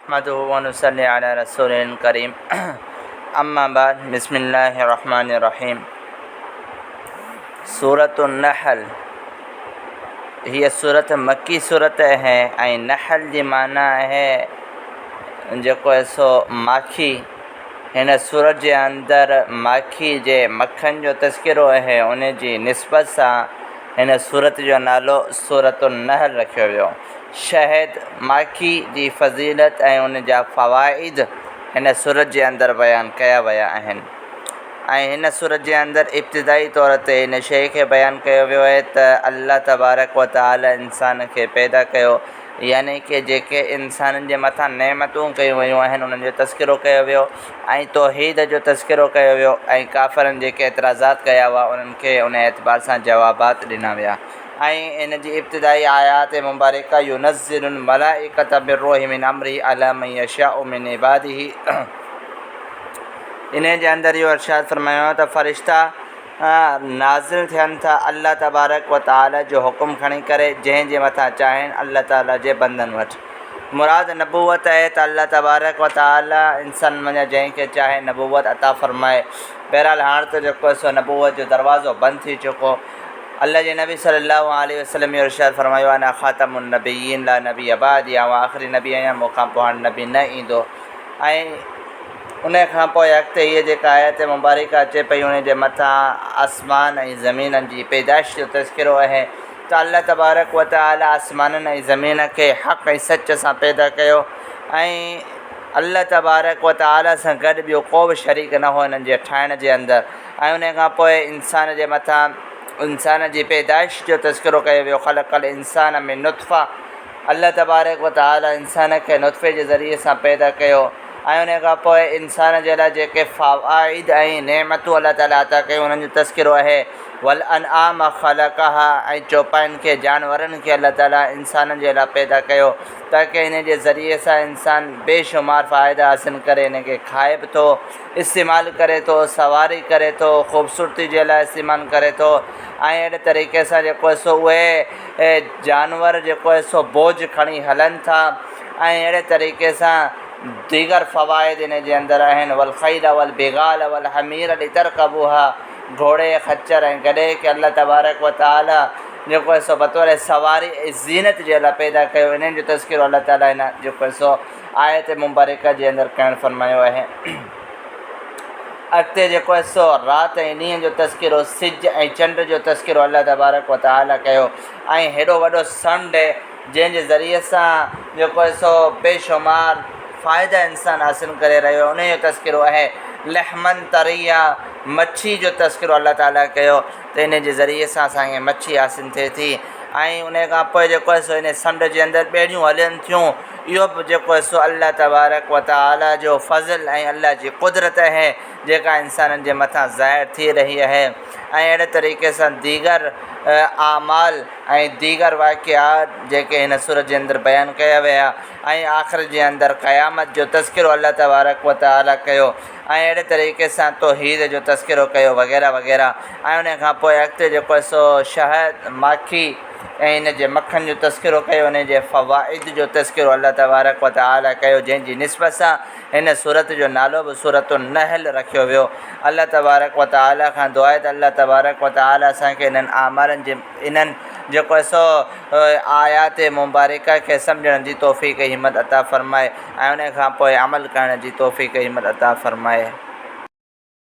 نحمده ونصلي علي رسوله الڪريم اما بعد بسم الله الرحمٰن الرحيم سورة النحل هيء سورة مڪي سورة اهي ۽ نحل جي معنيٰ اهي جيڪو اهي سو ماکي هن سورة جي اندر ماکي جي مکن جو تذڪرو اهي ان جي نسبت سان هن سورة جو نالو سورة النحل رکيو ويو شهد ماکي جي فضيلت ۽ ان جا فوائد هن سورت جي اندر بيان ڪيا ويا آهن ۽ هن سورت جي اندر ابتدائي طور تي هن شيء کي بيان ڪيو ويو آهي ته الله تبارڪ و تعاليٰ انسان کي پيدا ڪيو يعني ڪه جيڪي انسانن جي مٿان نعمتون ڪيون ويون آهن انهن جو تذڪرو ڪيو ويو ۽ توحيد جو تذڪرو ڪيو ويو ۽ ڪافرن جيڪي اعتراضات ڪيا هئا انهن کي ان اعتبار سان جوابات ڏنا ويا ۽ ان جي ابتدائي آيات مبارڪه ينزل الملائڪة بالروح من امره علي من يشاء من عباده انهيء جي اندر اهو ارشاد فرمايو ته فرشتا نازل ٿين ٿا الله تبارڪ و تعالي جو حڪم کڻي ڪري جنهن جي مٿان چاهين الله تعالي جي بندن وٽ مراد نبوت آهي ته الله تبارڪ و تعالي انسانن منجهان جنهن کي چاهي نبوت عطا فرمائي بهرحال هاڻ ته جيڪو سو نبوت جو دروازو بند ٿي چڪو الله جي نبي صلّي اللّٰه عليه وسلّم جو ارشاد فرمايو انا خاتم النّبيّين لا نبيّ بعدي آئون آخري نبي آهيان مون کان پوء هاڻ نبي نه ايندو ۽ ان کان پوء اڳتي هيء جيڪا آيت مبارڪه اچي پئي ان جي مٿان آسمان ۽ زمينن جي پيدائش جو تذڪرو اهي ته الله تبارڪ وتعالٰي آسمانن ۽ زمين کي حق ۽ سچ سان پيدا ڪيو ۽ الله تبارڪ وتعالٰي سان گڏ ٻيو ڪو به شريڪ نه هو انهن جي ٺاهڻ جي اندر ۽ انهيء کان پوء انسان جي مٿان انسان جي پيدائش جو تذڪرو ڪيو ويو، خلق الانسان من نطفة، الله تبارڪ و تعاليٰ انسان کي نطفي جي ذريعي سان پيدا ڪيو ۽ انهيء کان پوء انسان جي لاء جيڪي فوائد ۽ نعمتون الله تعاليٰ عطا ڪيون انهن جو تذڪرو اهي، والانعام خلقها، ۽ چوپاين کي، جانورن کي، الله تعاليٰ انسانن جي لاء پيدا ڪيو تاڪه انهيء جي ذريعي سان انسان بيشمار فائدا حاصل ڪري، انهن کي کائي به ٿو. استعمال ڪري ٿو، سواري ڪري ٿو، خوبصورتي جي لاء استعمال ڪري ٿو ۽ اهڙي طريقي سان جيڪو هي سو اهي جانور جيڪو هي سو بوجھ کڻي هلن ٿا ۽ اهڙي طريقي سان ديگر فوائد ان جي اندر آهن والخيل والبغال والحمير لترڪبوها گهوڙي، خچر ۽ گڏهي کي الله تبارڪ و تعاليٰ جيڪو هي سو بطور سواري ۽ زينت جي الله پيدا ڪيو انهن جو تذڪرو الله تعاليٰ هن جيڪو هي سو آيت مبارڪه جي اندر ڪهڻ فرمايو آهي؟ اڳتي جيڪو حصو رات ۽ ڏينهن جو تذڪرو، سج ۽ چنڊ جو تذڪرو الله تبارڪ و تعاليٰ ڪيو ۽ هيڏو وڏو سنڊ جنهن جي ذريعي سان جيڪو حصو بي شمار فائدا انسان حاصل ڪري رهيو آهي انهيء جو تذڪرو اهي لحما طريا مڇي جو تذڪرو الله تعاليٰ ڪيو. ته ان جي ذريعي سان اسان کي مڇي حاصل ٿئي ٿي ۽ ان کان پوء جيڪو آهي سو ان سمنڊ جي اندر ٻيڙيون هلن ٿيون اهو بि جيڪو آهي سو الله تبارڪ و تعالٰي جو فضل ۽ الله جي قدرت آهي جيڪا انسانن جي مٿان ظاهر ٿي رهي آهي ۽ اهڙي طريقي سان ديگر اعمال ۽ ديگر واقعات جيڪي هن سورت جي اندر بيان ڪيا ويا ۽ آخر جي اندر قيامت جو تذڪرو الله تبارڪ و تعالٰي ڪيو ۽ اهڙي طريقي سان توحيد جو تذڪرو ڪيو وغيره وغيره ۽ انهي کان پوء اڳتي جيڪو سو شهد، ماکي ۽ ان جي مکن جو تذڪرو ڪيو انهي جي فوائد جو تذڪرو الله تبارڪ و تعالي ڪيو جنهن جي نسبت سان هن سورت جو نالو به سورة النحل رکيو ويو الله تبارڪ و تعالي کان دعا آهي ته الله تبارڪ و تعالي اسان کي انهن اعمالن جي انهن جيڪو سو آيات مبارڪه کي سمجهڻ جي توفيق همت عطا فرمائي. ۽ ان کان پوء عمل ڪرڻ جي توفيق هي مل عطا فرمائي.